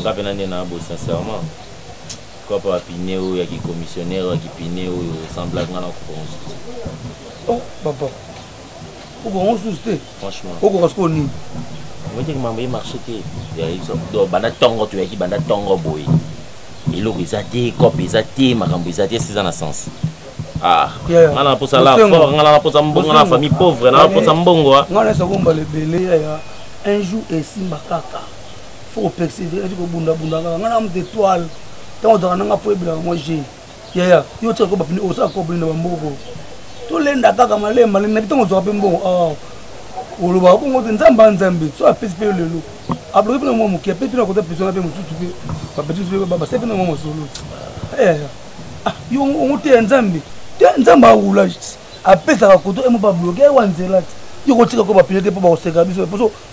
nga pena nde na bo sincèrement pourquoi pas bapine oyo ya kicommissionnaire ya kipine oyo esemblaki nga na kokoka mosusu te oh, papa okoka mosusu te franchement okoka sikoyo nini omete mambo ye marché te banda ntongo toyaki banda ntongo boye eloko eza te cope eza te makambo eza te esi eza na sens ah, nga na posa la fort nga na posa mbongo na famille pauvre na posa mbongo ah. nga na esa kombala ebele yaya un jour esimba kaka faut persévérer ti kobunda bunda kaka nga na moto étoile ntango ozalaka nanga po ebelaka mwa je yaya yo tika ko bapine osala kobini na bamboko tolenda kaka malemba na bitango ozwaka mpe mbongo ah, olobaka bongo te nzambe anzambe so apesi mpe yo lelo abloki mpe na mwa moke apesi mpe na koza presona mpe mosusu mpe bapetis mpe babasai mpe na mwa masolo eh, ah, yo ongo te ya nzambe te nzambe awula apesaka koto emo babloke ewa nzela te yo kotika ko bapine te mpo bakoseka biso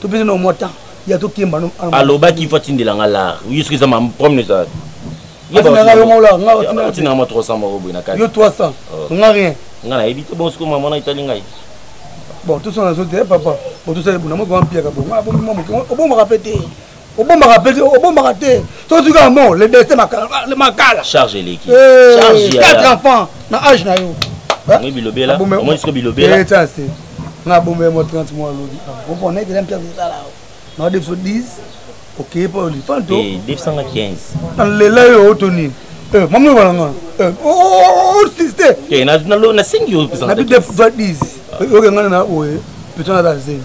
to pesa na mwa temps ya to kemba no aloba ki fa tindela nga la oui ce que ça m'a promis ça yo ba nga yo mola nga o tindela tindela ma 300 moko boy na kati yo 300 nga rien nga na ebite bon ce que maman na itali ngai bon tout ça na zo te papa bon tout ça ebuna mo ko ampia ka bon nga bo mo mo o bo mo rapete obombaka mpe obombaka te soki soki amo le destin makala charge eleki eh, quatre enfants na age na yo bilobela omoni siko bilobela eh, nga bombe mo 30 mois lobi opona ah, ekela mpe akosala na de biso 10 okeye mpo olifanto 215 nalela yo oto nini eh, mama oyo bana ngana osiste nasengi yo na bidefva 10 oke ngana na oye pito na bazemi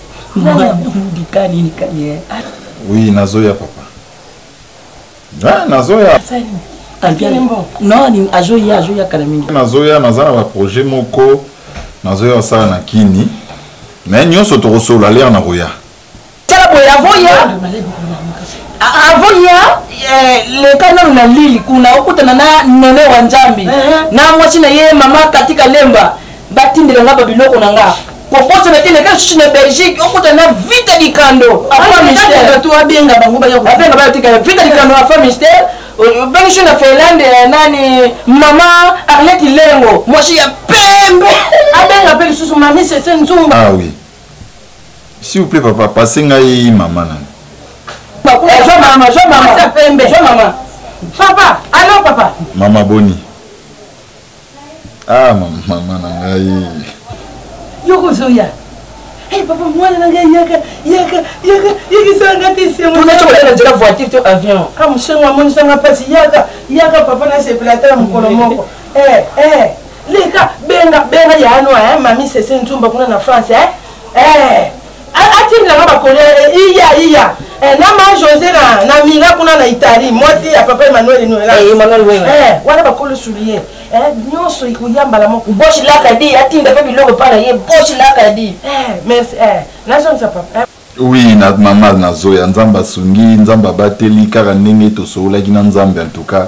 oui nazoya papa ah, nazoya azoya azoya kala mingi nazoya naza na baprojet moko nazoya osala na kini me nyonso tokosolola lere nakoya tala boye avoya avoya eh, leka nanu na lili kuna okutana na nene wa nzambi eh, eh. na mwasi na ye mama katika lemba batindela nga babiloko na nga kokota na kende ka susu na belgique okota na vita likando afato abenga bango bayabenga bayotika vita likando afa mister obengiso na finlande eh, nani mama arlete lengo mwasi ya pembe abenga mpe lisusu mami sese nzumba ah, oui. s'il vous plaît papa pase ngai mama nani papa alo papa mama boni ah mama na ngai yoko zoya Hey, eh, papa mwana na ngai yaka yaka yaka yekisaka nga te semonacokola na nzela voiture to avion a ah, mosengo amonisanga mpasi yaka yaka papa nasepela ata na mokolo moko eh, eh. leka benga benga ya anwa mami sese nzumba kuna na france eh? atindela nga bakole iya iya eh, na ma josé na, na mila kuna na italie mwasi ya papa emmanuel noelawana eh, eh, bakole soulier nyonso ekoya mbala moko boshi laka di atinda mpe biloko epa na ye boshi laka di merci nazongisa papa oui na mamal nazoya nzambe asungi nzambe abateli kaka ndenge tosololaki na nzambe en tout cas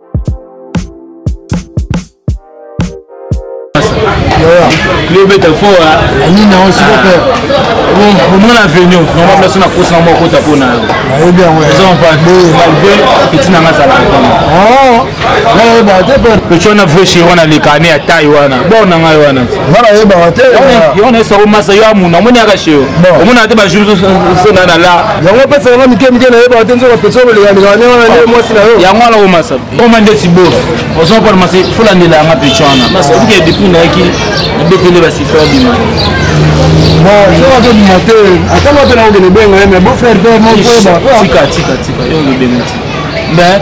lobeta fora nini yango sikope omona avenue normal place na kosa yango akota mpo na yomalgre peti nanga azala peti wana vrai chéri wana leka ane ya taille wana bor na ngai wana yo wana esako masa yo amuna omoni yaka chéri omonaka te bajour sonana la yango apesa yango mike mike nayebaka te nzoka apesa yo kolekalekana nde wana nde mwasi na yo yango wana omasa koma ndeti bos ozo mpona masa folandela yanga mpe cwana masike depuis nayaki nabetele basifa bima soka tobima te ata nga mpe nakokende benga ye mais beau frère mpe mokoyeba tika tika tika yo okebenga tika mais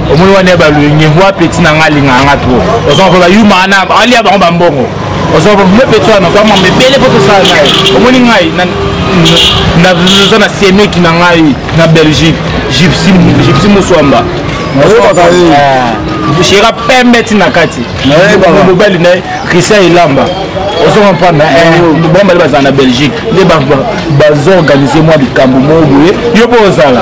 omoni wana balwenge mwa peti na ngai alingaka nga trop oza koba yuma wana alia bango bambongo oza koba mwa peti wana kwamama ebele mpo tosala naye omoni ngai naza na semeki na ngai na belgique gypsi moswamba nayebaka ye eh, shera pembe ti na kati mobali na ye christian elamba ozo comprendre eh, bambali bazala na belgique nde bazoorganize mwa likambo moko boye yo mpo ozala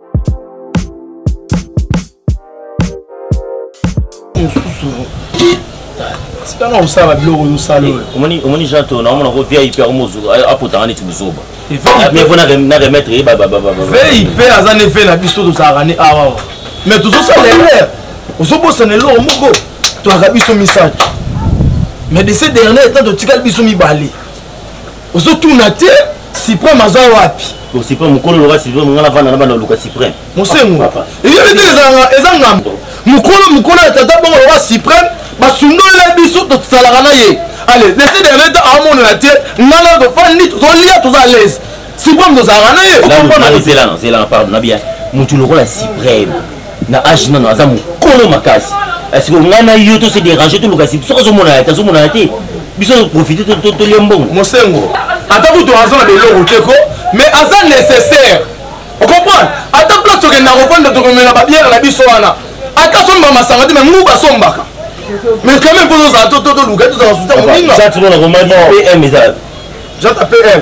tanga kosala biloko ozosala oyo eh, omoni jean to naomona ko vip yango mozuku apotanga neti buzoba po na remettre ye vip aza ne ve na biso tozalaka ne awawa mais tozosala erreur ozobosana eloko moko toyaka biso misato mais de ce dernier etant totikali biso mibale ozo tuna te supreme aza wapi po supreme mokolo loka supreme ngai navanda na banda luka supreme mosengo eyebi te eza ngambo mokolo mokolo ya tata bongo loka supreme basundolele biso tosalaka na ye ale dese dernier temps amonana te ngai na tofandi tozolia toza à l'aise supreme tozalaka na ye okomona motu lokola supreme na age nano aza mokolo makasi siko ngai na yo tose dérange toluka si soki azomona ya te azomona ya te biso toprofite tolia mbongo mosengo ata kutu aza na beloko te ko mais aza nécessaire ocomprendre ata place tokenda kopanda tokomela babiere na biso wana ata somba masanga te me ngu basombaka mais quand même mpo tozala toluka tozala suta moninga jata pm eza jata pm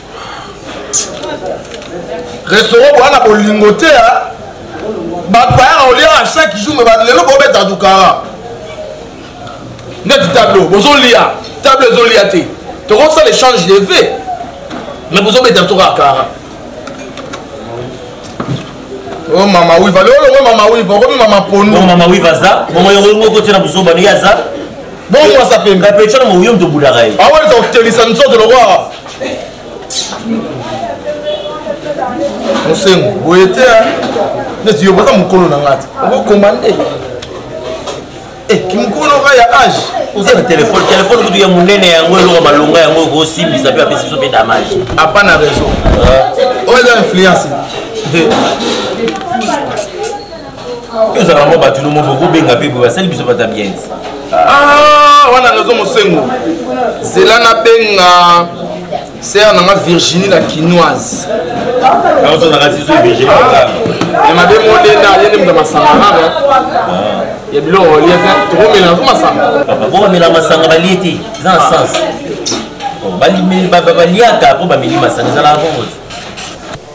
restaurant boyana bolingo te bato bayaka kolia chaque jour me lelo bobeta dukara neti tableau bozolia tableau ezolia te tokosala échange de ve me bozobeta biso kaka kara o oh, mama wiva lelo longo mama wiva okomi mama pondo oh, mama wiva aza bongo yango yango okotina buzoba ndenge aza bongo mwasa pembe kapetshana moyombi tobulaka ye awelisa kotelisa nzoto lokola mosengo boye te neti yo boza mokolo na ngai te okokoma nde eh, kimokolo oka ya age oza na telefone telefone kutu ya monene yango eloko malonga yango okosimbisa mpe apesi biso mpe damage apa na raison oyo eza influence tozala yango bato nomo bokobenga mpe boye basali biso bata bien ah, wana nazo mosengo zela nabenga sere nanga virginie la kinoise ya mabe modenda ye nde moto masanga nana ya biloko olie te tokomela nazo masanga bokomela masanga balie te eza na sens baliaka mpo bameli masanga ezalaka bongo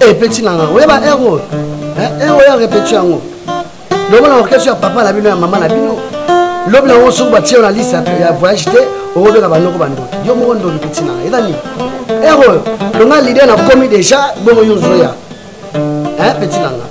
epeti eh, na ngai oyeba ero ero eh, eh, ya repeti yango lobo na orchestre ya papa na bino ya mama na bino lobi na yango soki batie na liste ya voyage te okobeka bandoko bandoki yo moko ndoki peti na ngai eza nini ero oyo longa lider na komi déjà bongo yo ozoya peti na ngai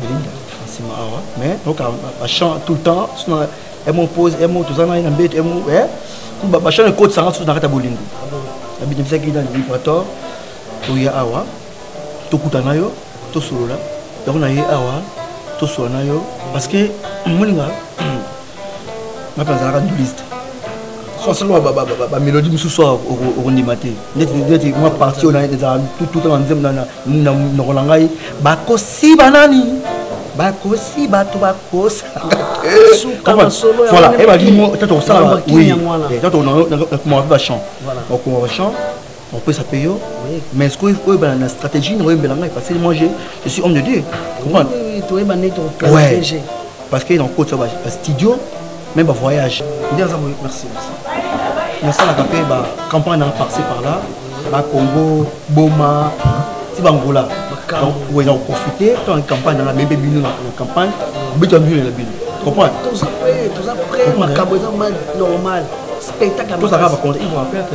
belinda nsima awa mais oka bachant tout le temps suna emo pose emo toza na ye na mbeto emo bachant ekotisanga susu na kati ya bolingo nabinebisaki na librator toya awa tokuta na yo tosolola yango na ye awa tosolola na yo parce que moninga ngape nazalaka nduliste sosoloba bamélodie mosusu okondima te neti mwa parti oyo ezala tuta na nzembo na monoko na ngai bakosi banani bakosi bato bakosaaebakimo tata kosala oui tata okomaka mpe bachamp okomaka bachamp opesa mpe yo mais ce que oyebana na stratégie na oyembela ngai parce que moi je, je suis homme de dieu comprendre ouais. parce que nakokotisa bastudio même bavoyage nde aza boye merci nasalaka mpe bacampagne na parci par là bacongo boma ti bangola oye na koprofite mpe na campagne nanga mebe bino na campagne obeta bino na bino comprendre tozalaka bakonte ivoire perte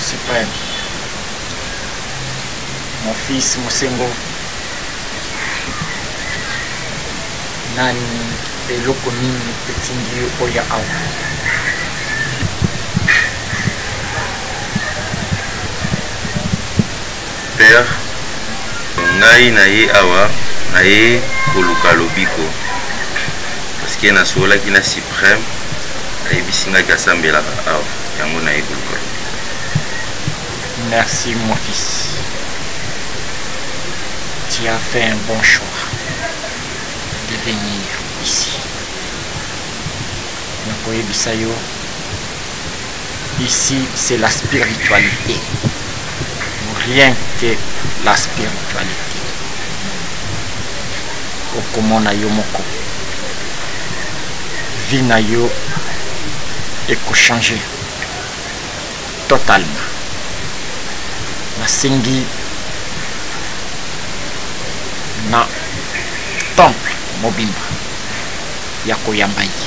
supreme mon fils mosengo nani eloko nini etindi yo oya awa Père ngai na ye awa na ye koluka lobiko parce que na sololaki na supreme ayebisi ngai kasambelaka awa yango na ye koluka lobiko merci mon fils tu as fait un bon choix de venir ici nakoyebisa yo Ici c'est la spiritualité. Rien que la spiritualité. okomona yo moko vie na yo ekochange totalement nasengi na temple mobimba ya koyamba ye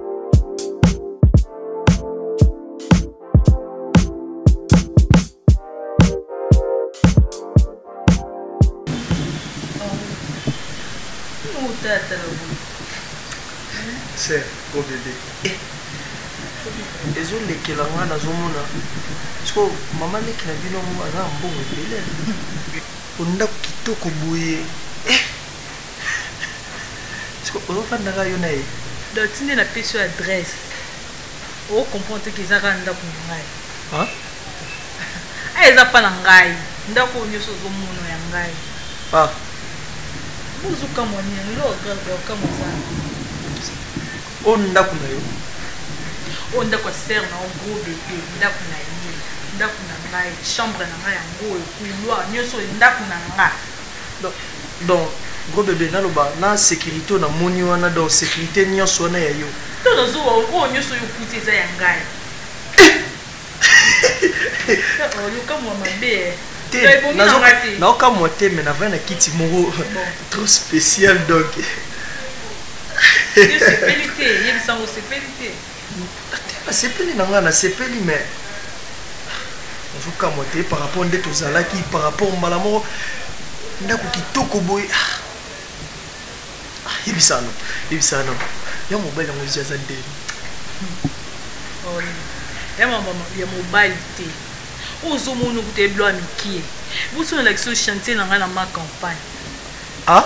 sœur mon bébé eh. ezolekela ngai nazomona siko mama leki na bino aza mbongo ebele po ndako kitoko boye eh. Siko oyo fanda nga yo na ye. Donc tinde na pesi yo adresse. O comprendre te qu'ils aura ndaku na ngai. Hein? Ah eza pas na ngai. Ndaku nyoso zo mono ya ngai. Ah. Buzu kamwa ni lo grave kamwa za. O ndaku na yo. O ndaku ya sœur na o gros bébé, ndaku na ye, ndaku na ngai, chambre na ngai yango, couloir nyoso ndaku na ngai. Donc gros bebe naloba na securite oyo na moni wana donc securite nionso wana ya yo. To na zuwa oyo nionso oyo okuti eza ya ngai. Oh yoka mwa mabe eh. Te na zo na oka mwa te mais na vana na kiti moro trop spécial donc. Yo sepeli te, yebisa ngo sepeli te. Te nasepeli na nga nasepeli mais nazokamwa te par rapport nde tozalaki par rapport mbala moko ndako kitoko boye ah. Ah, yebisano yebisano ya mobali yango esi aza ndeni ya mobali te oyo ozomona okuta eblo ya mikie boso nalakisi oyo chantier na ngai na ma campagne ah?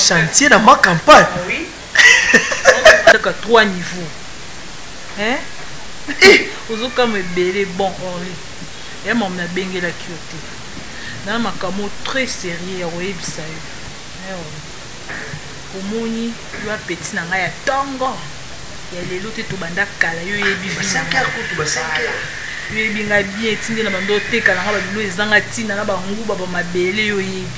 chantier na ma campagne ah, oui. kaka trois niveau hein eh! ozokama ebele bon ori oh, ya mama nabengelaki yo te na makambo très sérieux ya koyebisa yo eh, oh. omoni yo apeti na ngai ya ntongo ya lelo te tobanda kala yo yebi yo yebi ngai bien etindi na bando oteka na ngai babilo ezanga ntina na banguba bamabele yo yebi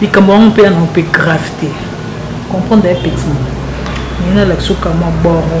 likambo yango mpe yango mpe grave te comprendre ya petit nini nalakisa okamwa boro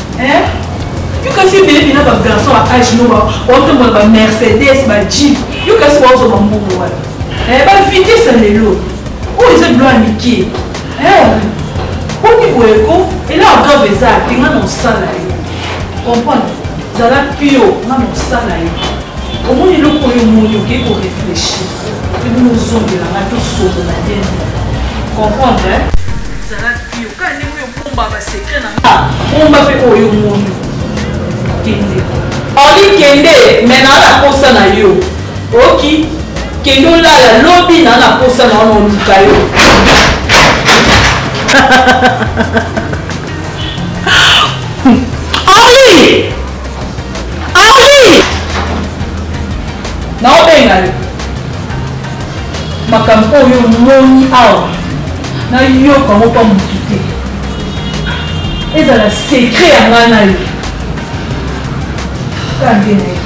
Eh? Yo kasi obebi na ba garçon ya age no baotambola ba Mercedes, ba Jeep. Yo kasi baozo ba mbongo wana. Eh, ba vitesse ya lelo. Oyo eza bilo ya mike. Eh, boni boye ko elaa grave eza te nga na osala ye. Comprendre? Zala pio nga na osala ye. Omoni eloko oyo omoni oke ko réfléchir. Ebino ozongela nga tosolola te. Comprendre? Eh? Bomba ba secret na nga. Bomba pe oyo mondo. Kende. Oli kende mais na la posa na yo. Oki kende olala lobi na la posa na ono luka yo. Oli! Oli! Na obenga yo. makambo oyo omoni awa nayoka moko ya motu te ezala sekre ya ngai na yo kaka nde na ye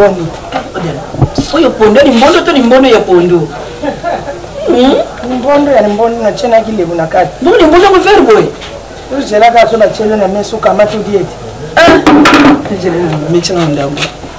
boni oyo pondo limbondo to limbondo ya pondo hmm? limbondo ya limbondo natyenaki lebu na kati bo limbondo yango vere boye ozelaka so natyele na meso kamati odiete ah! mecana ndambo